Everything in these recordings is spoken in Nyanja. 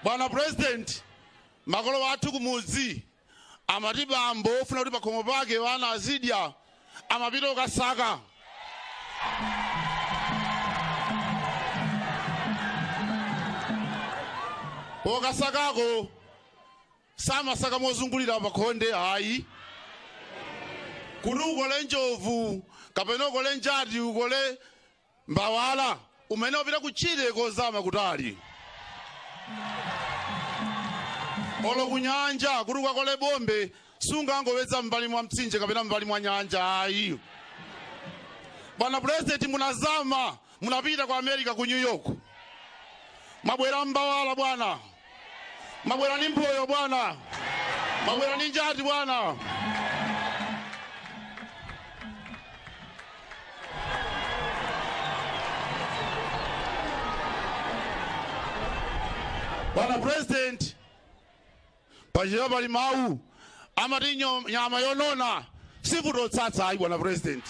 bwana president makolo athu kumudzi amati bambo ofuna kuti pakhomo pake wana azidya amapita ukasaka ukasakako samasaka mozungulira pakhonde ayi kuti ukole njovu kapena ukole njati ukole mbawala umene upita kutchire kozama kutali olo ku nyanja kuti ukakole bombe sungangowedza m'mbali mwa mtsinje kapena m'mbali mwa nyanja ayi bwana purezidenti munazama Munapita ku America ku New York mwabwera mbawala bwana, mwabwera ndi mphoyo bwana, mwabwera ndi njati bwana. Bwana President, Pachichewa pali mawu amati nyo- nyama yonona sivuta utsatsa ayi bwana president.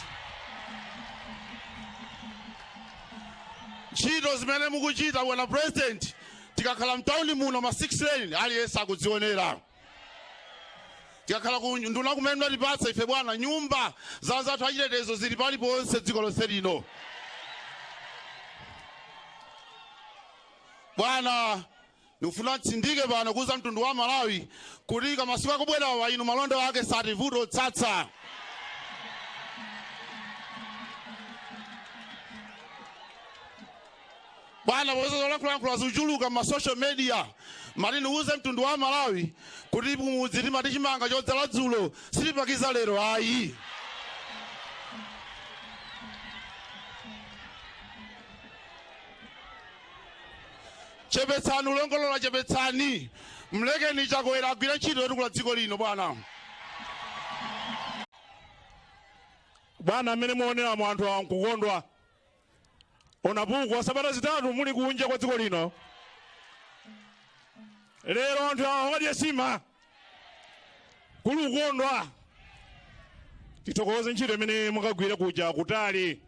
Ntchito zimene mukuchita bwana president tikakhala mtauni muno ma 6 lane aliyense akudzionera. Tikakhala ku unduna kumene mnatipatsa ife bwana nyumba za anzathu achitetezo zili paliponse dziko lonse lino. Bwana Ndikufuna nditsindike pano kuuza mtundu wa Malawi kuti ka masiku akubwerawa inu malonda ake sativuta utsatsa. Bwana popeza zolankhulalankhula zikuchuluka m'ma social media mati ndiuze mtundu wa Malawi kuti kumudzi timati chimanga chodzala dzulo sitipakiza lero ayi. Chepetsani ulongolola chepetsani. Mlekeni Chakwera agwire ntchito yotukula dziko lino bwana. Bwana mmene muoneramu anthu awa nkukondwa. Onapukwa sabata zitatu muli kunja kwa dziko lino. Lero anthu awa akadya nsima. Kuli kukondwa. Tithokoze ntchito imene mwakagwira kuja kutali.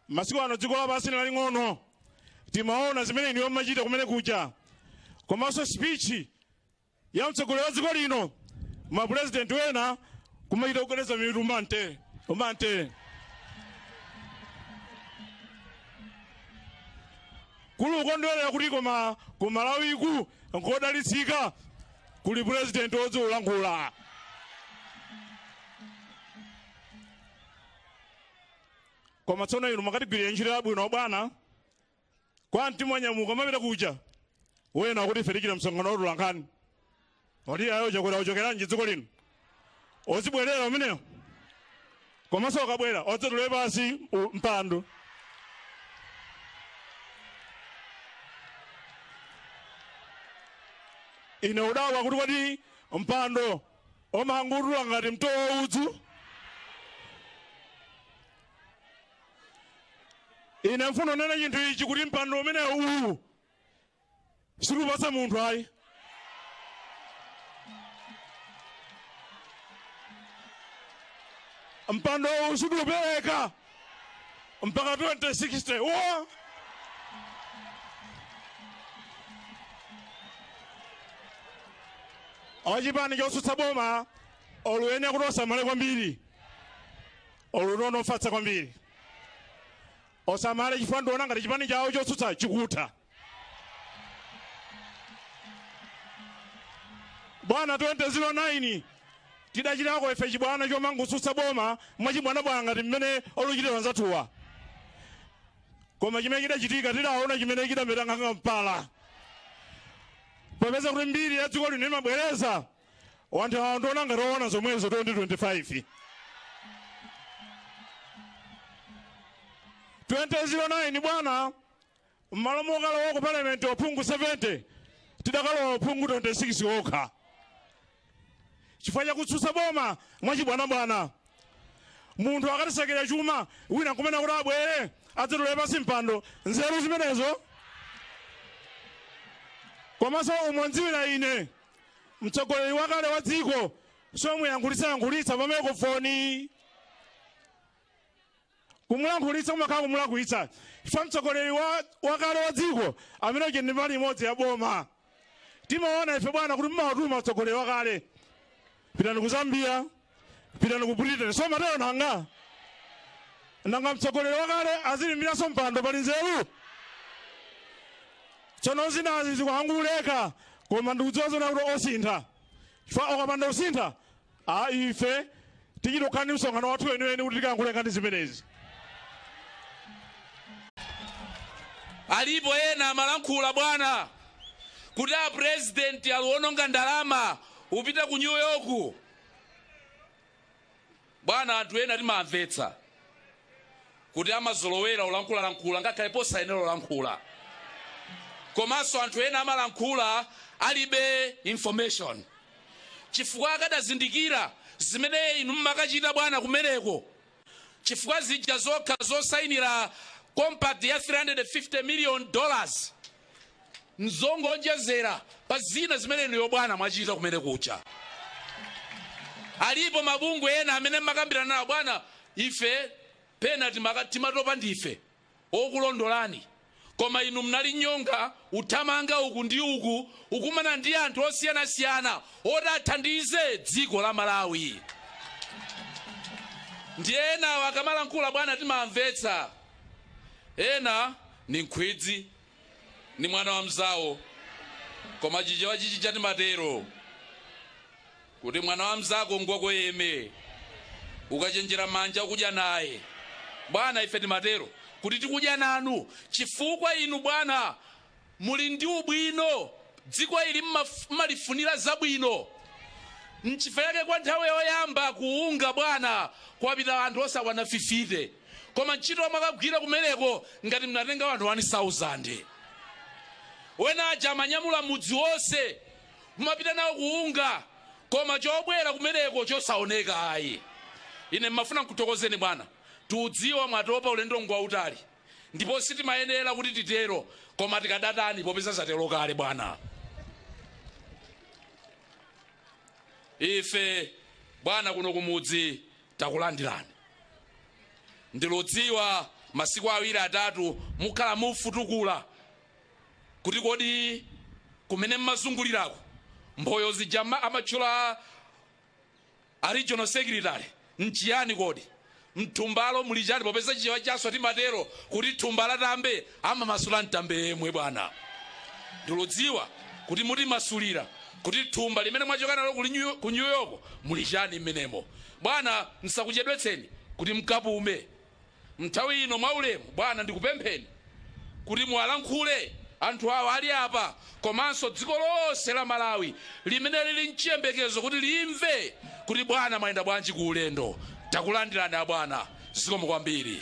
Masiku ano dziko lapansi n'laling'ono, timaona zimene inuyo mmachita kumene kuja, komanso speech ya mtsogoleri wa dziko lino, mapurezidenti wena kumachita kugwedeza mitu mante mante. kuli ukondwerera kuti koma ku malawiku nkodalitsika kuli purezidenti wodziwa ulankhula koma tsono inu mwakatigwirira ntchito yabwino bwana kwa mtima mwanyamuka amapita kuja wena akuti ife tichita msonkhano wa atolankhani oti ayi o chakwera ochokeranji dziko lino ozibwerera umeneyo komanso okabwera odzatule pasi u- mpando ine udabwa kuti kodi mpando omangotula ngati mtolo wa udzu ine ndifuna kunena chinthu ichi kuti mpando umene uwu sitikupasa munthu ayi mpando uwu sitikupereka mpaka 2060 ochipani chotsutsa boma oluyenera kuti osamale kwambiri olunono ofatsa kwambiri osamale chifukwa ndiona ngati chipani chawo chotsutsa chikutha bwana 2009 tidachitako ife chibwana chomangutsutsa boma mwachibwanabwana ngati mmene oluchitira anzathuwa koma chimene chidachitika tidaona chimene chidameta nkhanga mpala popeza kuti mbiri ya dziko lino imabwereza wanthu awa ndiona ngati oona zomwezo 2025 2009 bwana M'malo mokalowa ku Parliament aphungu 70, tidakalowa aphungu 26 okha chifukwa cha kutsutsa boma mwachibwanabwana. Munthu akatisakira chuma, wina nkumanena kuti abwere adzatule pansi mpando, nzeru zimenezo? Komanso umo ndziwira ine, mtsogoleri wakale wa dziko somuyankhulitsayankhulitsa pa maikrofoni. kumulankhulitsa kumakhala kumulakwitsa chifukwa mtsogoleri wa, wakale wa dziko amene uja ndi mbali imodzi ya boma timaona ife bwana kuti mumawatuma mtsogoleri wakale pitani ku zambia pitani ku britain so matero nanga nanga mtsogoleri wakale azilimbiraso mpando pali nzeru tsono zinazi zikuyankhulika koma ndikudziwa zona kuti osintha chifukwa okapanda usintha Ayi, ife tichita kukhala ndi msonkhano wathu weniweni kuti tikayankhule nkhani zimenezi. Alipo ena amalankhula bwana kuti a president aliwononga ndalama upita ku New York. Bwana anthu ena timawamvetsa. kuti amazolowera ulankhulalankhula ngakhale posayenera ulankhula komanso anthu ena amalankhula alibe information chifukwa akadazindikira zimene inu mmakachita bwana kumeneko chifukwa zija zokha zosayinira compact ya 350 million dollars nzongoonjezera pa zina zimene inuyo bwana mwachita kumene kuja alipo mabungwe ena amene mmakambirana nawo bwana ife pena timaka- timatopa ndife okulondolani koma inu mnali nyonga uthamanga uku ndi uku ukumana ndi anthu osiyanasiyana oti athandize dziko la malawi ndi enawo akamalankhula bwana timamvetsa ena ndi nkhwidzi ndi mwana wa mnzawo koma chichewa chichija timatero kuti mwana wa mnzako ngwako yemwe ukachenjera manja ukudya naye bwana ife timatero kuti tikudya nanu chifukwa inu bwana muli ndi ubwino dziko ili mmaf- mmalifunira zabwino nchifukwa chake kwa nthawi yoyamba ku UNGA bwana kwapita anthu osakwana 50 koma ntchito mwakagwira kumeneko ngati mnatenga wanthu 1000 wena aja amanyamula mudzi wonse kumapita nawo ku UNGA koma chobwera kumeneko chosaoneka ayi ine mmafuna nkuthokozeni bwana tiudziwa mwatopa ulendo ngwautali ndipo sitimayenera kuti titero koma tikadatani popeza zatero kale bwana ife bwana kuno kumudzi Takulandirani. Ndiludziwa masiku awiri atatu mukhala mufutukula kuti kodi kumene mmazunguliraku mphoto zija mma amatchula a regional secretary nchiyani kodi? Mthumbalo muli chani popeza Chichewa chathu timatero kuti thumba la tambe amamasula ntambe yemwe bwana. Ndiludziwa kuti mutimasulira. kuti thumba limene mwachoka nalo kuli New- ku new york muli chani mmenemo bwana nsakuchedwetseni kuti mkapume mnthawi ino mwaulemu bwana ndikupempheni kuti muwalankhule anthu awa ali apa komanso dziko lonse la malawi limene lili mchiyembekezo kuti limve kuti bwana mwayenda bwanji ku ulendo takulandirani abwana zikomo kwambiri